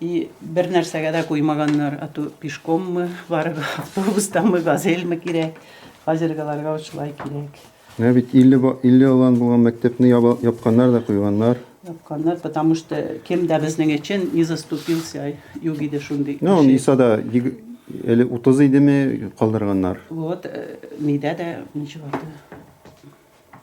И бер нәрсәгә дә куймаганнар, а то пешкоммы, барып автобустамы, газельмы кирәк. Хәзергеләргә шулай кирәк. Менә бит 50 ба- 50 алан булган мәктәпне яба- япканнар да куйганнар. Япканнар, потому что кем дә безнең өчен не заступился, юк иде шундый. Ну, кеше. Нисада егер- әле 30 идеме калдырганнар. Вот, э, нидә дә ничек аты.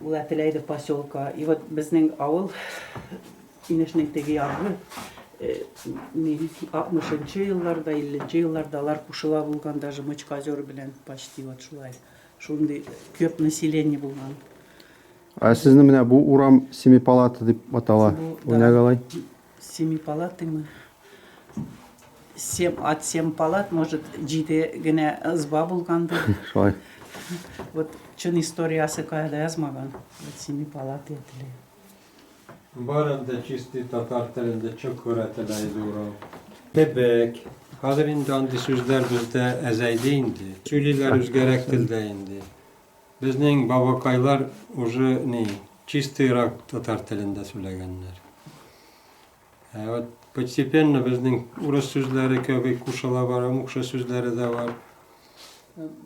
Ул әтеләй ди поселка. И вот безнең авыл инешнең теге ягы э, мин 60-нчы елларда, 50-нче елларда алар кушыла булган даже Мочкозер белән почти вот шулай. Шундый көп население булган. Ә сезне менә бу урам Семипалата дип атала. Бу, да. Уйнагалай. Семипалатыймы? Сем, от сем палат, может, җиде генә ызба булгандыр. Шулай. Вот чын историясы кая да язмаган. Вот семипалатый теле. Бар анда чистый татар телендә чокура теле иде урау. Кебек. Хәзер инде андый сүзләр бездә әзәйде инде. Сөйлиләр үзгәрәк телдә инде. Безнең бабакайлар уже ни чистый рак татар телендә сүләгәннәр. Ә вот постепенно безнең урыс сүзләре кеби кушыла бара, мукшы сүзләре дә бар.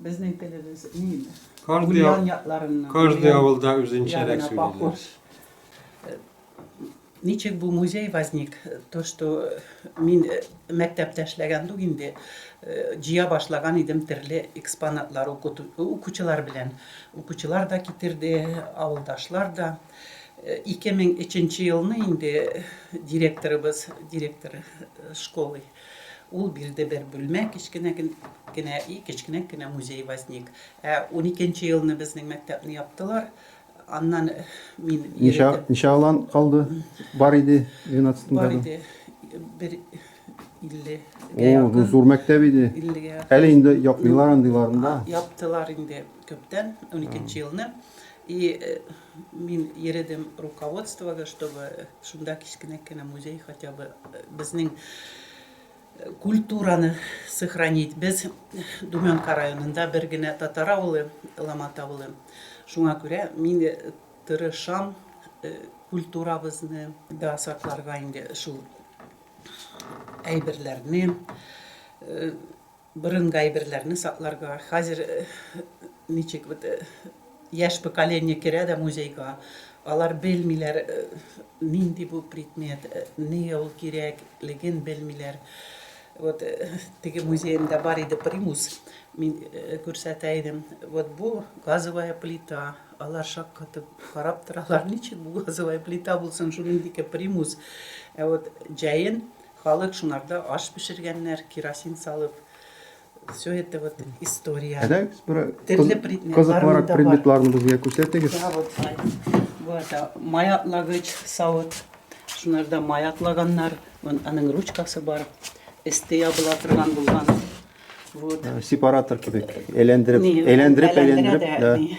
Безнең телебез ни инде? Каждый авылда үзенчәрәк сөйлиләр. Ничек бу музей возник? То что мин мәктәптә эшләгән дук инде, җыя башлаган идем терле экспонатлар укучылар белән. Укучылар да китерде, авылдашлар да. 2003 нче елны инде директорыбыз, директор школы, ул бирде бер бүлмә, кечкенә генә, и кечкенәк кенә музей возник. Ә 12 нче елны безнең мәктәпне яптылар, Аннан мин... Ничә, ничә алан калды? Бар иде 12 Бар иде. Бер 50 О, бу зур мәктәп иде. 50 Әле инде япмыйлар андыйларын да. Яптылар инде күптән, 12 елны. И э, мин йөредем руководствога, чтобы шунда кечкенә кенә музей хотя бы э, безнең Культураны сохранить. Без Думенка районында бер генә татар авылы, Ломат авылы. Шуңа күрә мин тырышам культурабызны да сакларга инде шул әйберләрне, борынгы әйберләрне сакларга. Хәзер ничек вот Яшь поколение керә дә музейга, алар белмиләр, нинди бу предмет, нигә ул кирәк, леген белмиләр. Вот теге музеемда бар иде примус, мин күрсәтә идем. Вот бу газовая плита, алар шаккатып карап торалар, ничек бу газовая плита булсын, шуның дике примус. Ә вот җәен халык шунарда аш пешергәннәр, керосин салып. Все это вот история. Әдәгез бер Төрле предметларны кызыклырак да бар. предметларны безгә күрсәтегез. Да, вот, бу это май атлагыч савыт. Шунарда май атлаганнар, вон аның ручкасы бар. Эсте ябыла торган булган. Вот. Э, Сепаратор кебек. Әйләндереп, Ни, әйләндереп, әйләндерә әйләндереп. дә, да. ни.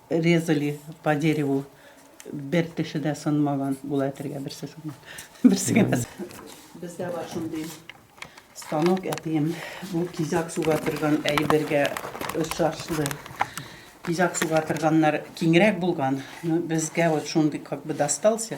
Резали по дереву бер теше дә сынмаган була әтергә берсе сынмаган. Берсе генә. Бездә бар шундый станок әтием. Бу кизак суга торган әйбергә ошашлы. Кизак суга торганнар киңрәк булган. Безгә вот шундый как бы достался.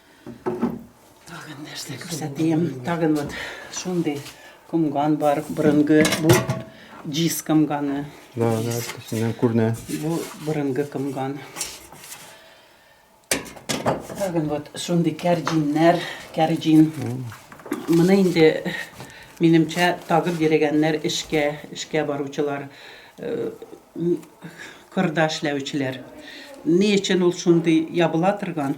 Тагын нәрсә күрсәтәм. Тагын вот шундый комган бар. Борынгы бу джиз комганы. Да, да, төсеннән күренә. Бу борынгы комган. Тагын вот шундый кәрҗиннәр, кәрҗин. Моны инде минемчә тагып йөрегәннәр эшкә, эшкә баручылар, э, кырда эшләүчеләр. Ни өчен ул шундый ябыла торган?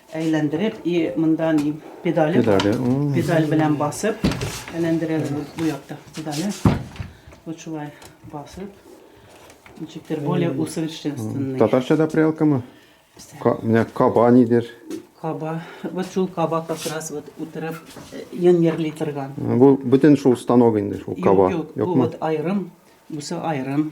Әйләндереп и монда ни педале. Педале. Педаль белән басып әйләндерәбез бу, бу якта педале. Вот шулай басып. Ничектер более усовершенствованный. Татарчада прялкамы? Менә каба нидер. Каба. Вот шул каба как раз вот утырып йонерли торган. Бу бөтен шул станок инде шул каба. Юк, юк. Бу вот айрым, бусы айрым.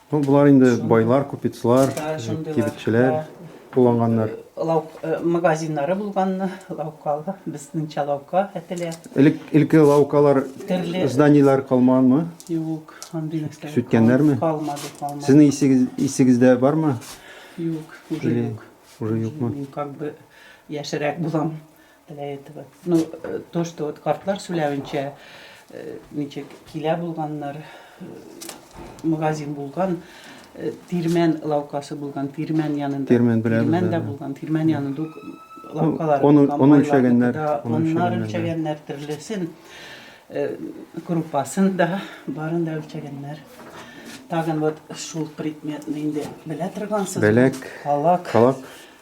Ну, болар инде байлар, купецлар, кибетчеләр кулланганнар. Лау магазиннары булганны, лаукалы, безнеңчә лаука әтелә. Элек элке лаукалар, Төрле. зданиеләр калмаганмы? Юк, андый нәрсә. Сүткәннәрме? Калмады, калмады. Сезнең исегез, исегездә бармы? Юк, уже Или юк. Уже юкмы? Мин как бы яшерәк булам. Для этого. Ну, э, то, что вот картлар сүләвенчә, э, ничек килә булганнар, э, магазин булган, тирмән лавкасы булган, тирмән янында. Тирмән белән. Тирмән дә булган, тирмән янында лавкалар. Оны оны үлчәгәннәр, оннар үлчәгәннәр төрлесен, группасын да, барын да үлчәгәннәр. Тагын вот шул предметны инде белә торгансыз. Беләк. Калак. Калак.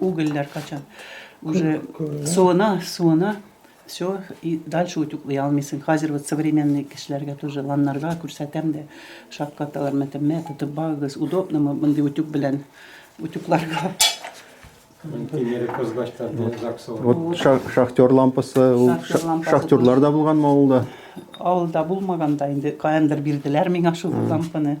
Угольләр качан уже суына, суына, все, и дальше утюклый алмыйсың. Хәзер вот современный кешеләргә тоже ланнарга күрсәтәм дә, шаккаталар, мәтәм, мә, тотып багыз, удобнымы мондый утюг белән утюгларга. Вот шахтер лампасы, шахтерлар да булган авылда. Авылда булмаганда инде каяндыр бирделәр миңа шул лампаны.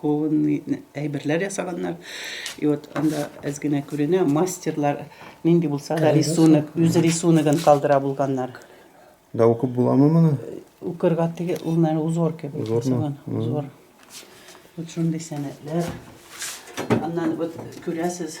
Кованный әйберләр ясаганнар. И вот анда әз генә күренә, мастерлар нинди булса да рисунок, үз рисуногын калдыра булганнар. Да укып буламы моны? Укырга теге ул менә узор кебек. Узормы? Узор. Вот шундый сәнәтләр. Аннан вот күрәсез,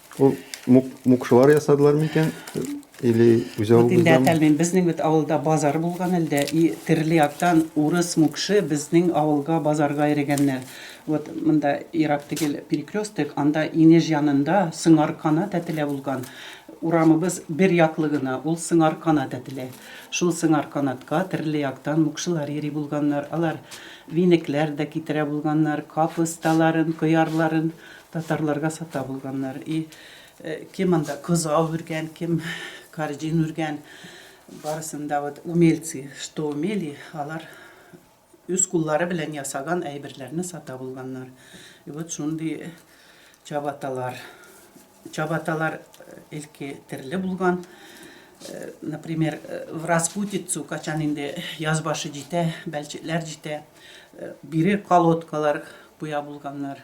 Ул мукшылар ясадылар микән? Или үзе алып Инде әтәлмим. Безнең бит авылда базар булган әлдә. И терле яктан урыс мукшы безнең авылга базарга йөрегәннәр. Вот монда ерак тигел перекресток, анда инеш янында Сыңаркана тәтелә булган. Урамыбыз бер яклы гына, ул Сыңаркана тәтелә. Шул Сыңарканатка терле яктан мукшылар йөри булганнар. Алар винекләр дә китерә булганнар, капусталарын, кыярларын. Татарларга сата булганнар и кем анда кызау үргән, кем карҗин үргән, барысын да вот умельцы что умели, алар үз куллары белән ясаган әйберләрне сата булганнар. И вот шундый чабаталар. Чабаталар элки терле булган. Например, в распутицу качан инде яз башы җитә, бәлчекләр җитә, бире колодкалар куя булганнар.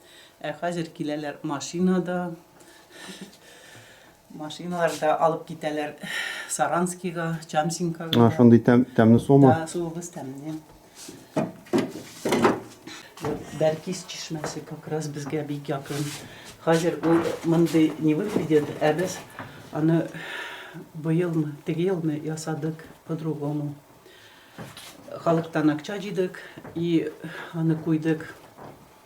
Ә хәзер киләләр машинада. Машиналарда алып китәләр Саранскига, Чамсинкага. А, шундый тәм, тәмле суымы? Да, суыбыз тәмле. Бәркис чишмәсе как раз безгә бик якын. Хәзер ул мондый не выглядит, ә без аны быелмы, теге елны ясадык по-другому. Халыктан акча җыйдык и аны куйдык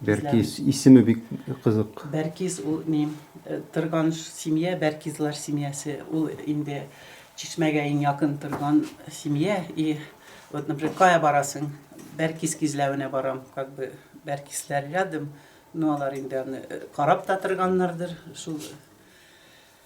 Бәркиз, исеме бик кызык. Бәркиз ул ни, торган семья, Бәркизлар семьясы, ул инде Чишмәгә иң якын торган семья, и вот, например, кая барасың, Бәркиз кизләвенә барам, как бы Бәркизләр рядом, ну алар инде аны карап та торганнардыр, шул.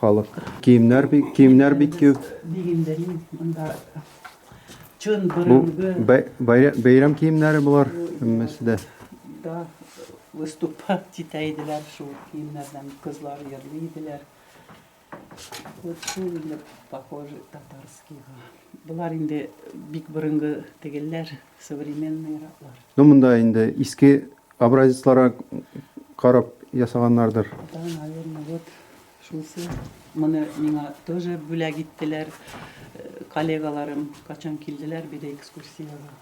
Халык. Киемнәр бик, киемнәр бик күп. Бу бәйрәм киемнәре булар һәммәсе дә. Да, выступать китә иделәр шул киемнәрдән, кызлар йөрли иделәр. Вот шул инде похоже татарскийга. Болар инде бик борынгы тегелләр. Современный раклар. Ну, монда инде иске образецларга карап ясаганнардыр. Да, наверное, вот шунсы. Моны миңа тоже бүләк иттеләр э, коллегаларым, качан килделәр биде экскурсиягә.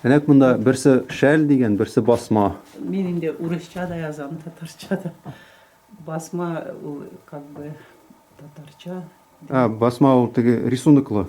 Әнәк монда берсе шәл дигән, берсе басма. Мин инде урысча да язам, татарча да. Басма ул как бы татарча. А, басма ул теге рисунклы.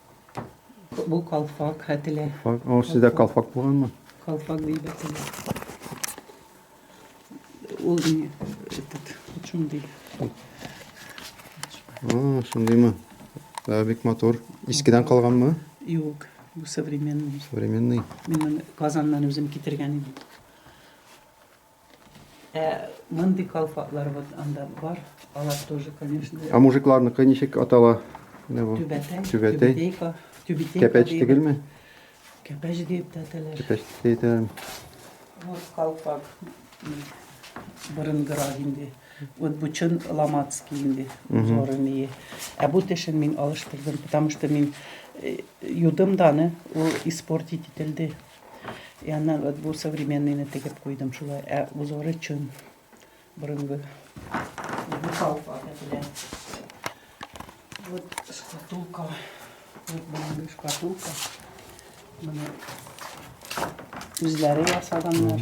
Бу калфак хәтеле. Калфак. О, сездә калфак булганмы? Калфак ди бәтеле. Ул не этот чун ди. А, шундыймы? Да, бик матур. Искедән калганмы? Юк, бу современный. Современный. Мин Казаннан үзем китергән идем. Ә мондый калфаклар вот анда бар. Алар тоже, конечно. А мужикларныкы ничек атала? Түбәтәй. Түбәтәй. Түбәтәй. Кәпәч түгелме? Кәпәч дип тә әтәләр. Кәпәч дип тә. Вот калфак. Борынгырак инде. Вот бу чын ламатский инде. Зоры мие. Ә бу тешен мин алыштырдым, потому что мин юдым даны, ул испортить ителде. Я на вот бу современный не тегеп куйдым шулай, ә узоры чын. Борынгы. Бу салфа белән. Вот шкатулка. Вот борынгы шкатулка. Менә үзләре ясаганнар.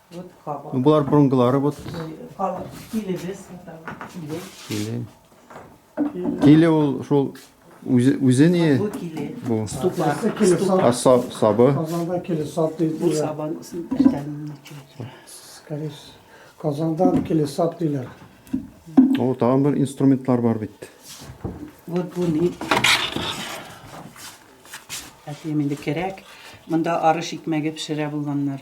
Болар бронгалары вот. Киле. Киле ул шул үзе үзе не бу. А сабы. Казанда киле саб дип. Бу сабан иртәнне чөй. Скорее Казандан киле саб диләр. О, тагын бер инструментлар бар бит. Вот бу ни? Әти инде кирәк. Монда арыш икмәге пешерә булганнар.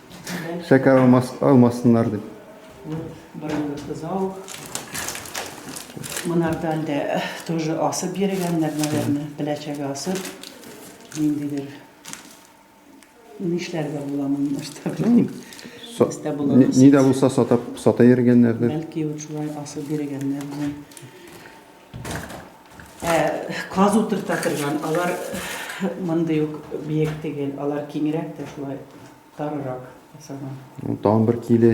Шәкәр алмас, алмасыннар дип. Вот борынгы кызау. Монардан да э, тоже асып йөргәннәр, наверное, беләчәгә асып. Ниндидер нишләргә була моны нәрсә белмим. Сатта була. Ни дә булса сатап сата йөргәннәрдер. Бәлки вот шулай асып йөргәннәр. Ә каз утырта торган, алар мондый ук биек түгел, алар киңрәк тә шулай тарырак ясаган. Ну, тагын бер киле.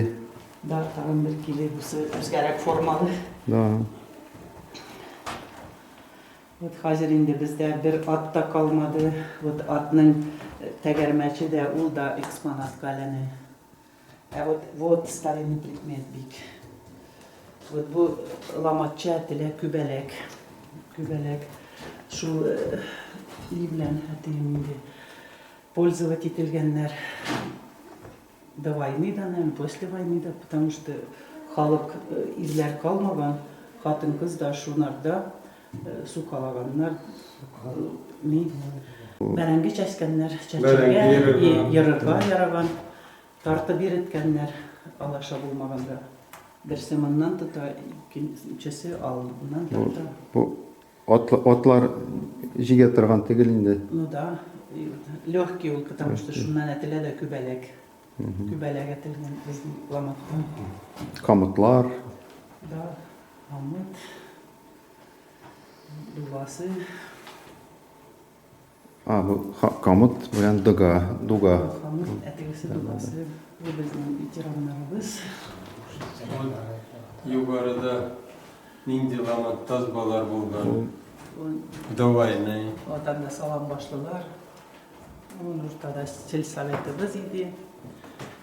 Да, тагын бер киле бусы үзгәрәк формалы. Да. Вот хәзер инде бездә бер ат та калмады. Вот атның тәгәрмәче дә ул да экспонатка әйләнә. Ә вот вот старинный предмет бик. Вот бу ламатча теләк күбәләк. Күбәләк. Шул ни белән әтием инде пользовать ителгәннәр. До войны да, наверное, после войны да, потому что халык ирләр калмаган, хатын-кыз да шунарда Су калаганнар, мин бәрәңге чәчкәннәр, чәчәргә, ерырга яраган, тартып иреткәннәр, алаша булмаганда. Берсе моннан тота, икенчесе алдыннан тарта. Бу атлар җигә торган тегел инде. Ну да, легкий ул, потому что шуннан әтелә дә күбәләк. Күбәләк әтелгән безнең ламатта. Камытлар. Да, камыт. Дугасы. А, бу камыт белән дуга, дуга. Камыт, ә тегесе дугасы. Бу безнең ветераннарыбыз. Югарыда нинди ламат тазбалар булган? Давайный. Вот анда салам башлылар. Ул уртада сельсоветыбыз иде.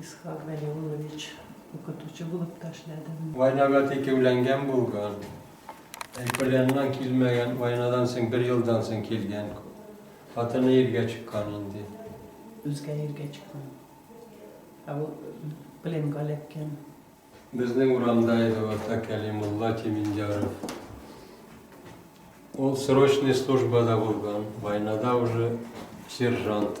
Исхак Галиуллович, укытучы булып та эшләдем. Войнага текеүләнгән булган. Эколяннан килмәгән, войнадан соң, бер елдан соң килгән. Хатыны иргә чыккан инде. Үзгә иргә чыккан. Ә ул пленга эләккән. Безнең урамда иде ул, Ата Кәлимулла Тимендяров. Ул срочный службада булган, войнада уже сержант.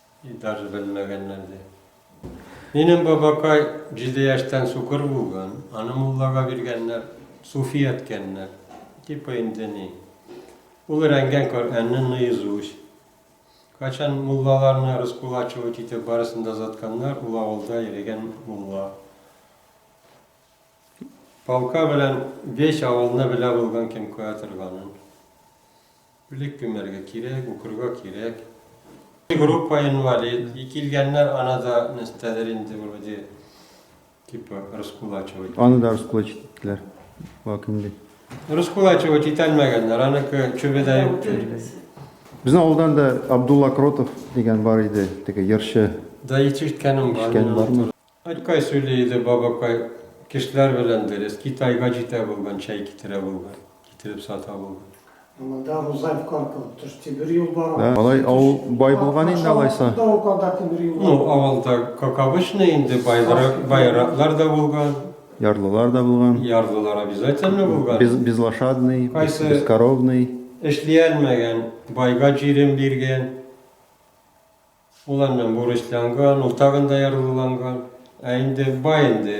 И даже белмәгәннәр ди. Минем бабакай җиде яшьтән сукыр булган, аны муллага биргәннәр, суфи әткәннәр. Типа инде ни. Ул рәнгән Коръәнне наизусть. Качан муллаларны раскулачивать итеп барысын да затканнар, ул авылда йөрегән мулла. Палка белән беш авылны белә булган кем куя торганын. Үлек күмәргә кирәк, укырга кирәк. Группа инвалид, и килгәннәр ана да нәстәдер инде вроде типа раскулачивать иттеләр. Аны да раскулачить иттеләр. Вак инде. Раскулачивать итәлмәгәннәр, аныкы чүбе дә юк. Безнең авылдан да Абдулла Кротов дигән бар иде, теге йырчы. Да ишеткәнем бар. Өлкәй сөйли иде, Бабакай, кешеләр белән дөрес, Китайга җитә булган, чәй китерә булган, китереп сата булган. Монда Рузай в Карпово төш, тимер юл бар. Ә, алай авыл бай булган инде алайса. Ну, авылда, как обычно, инде байларак, байраклар да булган. Ярлылар да булган. Ярлылар обязательно булган. Без, безлошадный, Кайсы... бескоровный. Эшли алмаган, байга җирен биргән. Ул әннә бурычланган, ул тагын да ярлыланган. Ә инде бай инде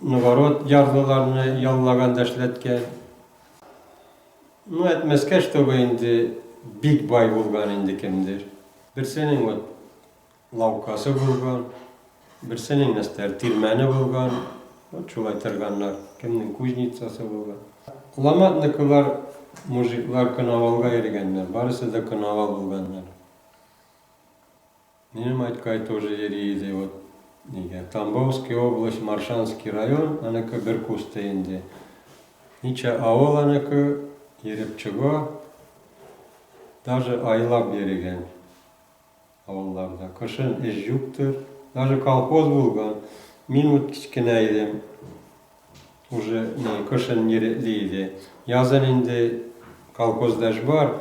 новород ярлыларны яллаган да эшләткән. Ну, әйтмәскә, чтобы инде бик бай булган инде кемдер. Берсенең вот лавкасы булган, берсенең нәстәр тирмәне булган, вот шулай торганнар, кемнең кузницасы булган. Ломатникылар, мужиклар коновалга йөргәннәр, барысы да коновал булганнар. Минем Айткай тоже йөри иде, вот нигә. Тамбовский область, Маршанский район, аныкы бер кусты инде. Ничә авыл аныкы, йөреп чыга. Даже айлап йөрегән авылларда. Кышын эш юктыр. Даже колхоз булган. Мин вот кечкенә идем. Уже не, кышын йөретли иде. Язын инде колхозда эш бар.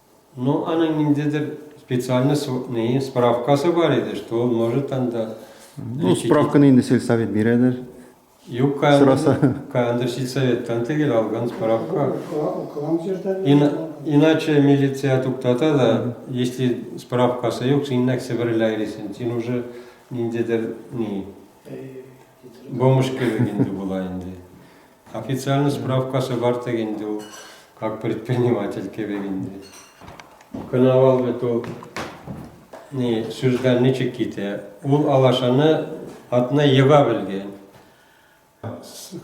Ну аның ниндидер специальный нее справкасы бар иде, что он может анда. Ну справканы инде сельсовет бирәдер. Юк, сораса. Кандыр сельсоветтан тегел алган справка. Иначе милиция туктата да, если справкасы юк, син нәк себерлә иресен. Син уже ниндидер ни. Бомж кебек инде була инде. Официальный справкасы бар теге инде ул, как предприниматель кебек инде. Коновал бит ул ни сүздән ничек китә? Ул алашаны атны ега белгән.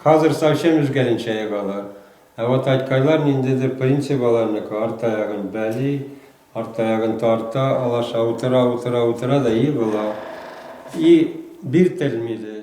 Хәзер совсем үзгәренчә егалар. Ә вот айткайлар ниндидер принцип аларныкы, арт аягын бәли, Арт таягын тарта, алаша утыра, утыра, утыра да егыла. И биртелми де.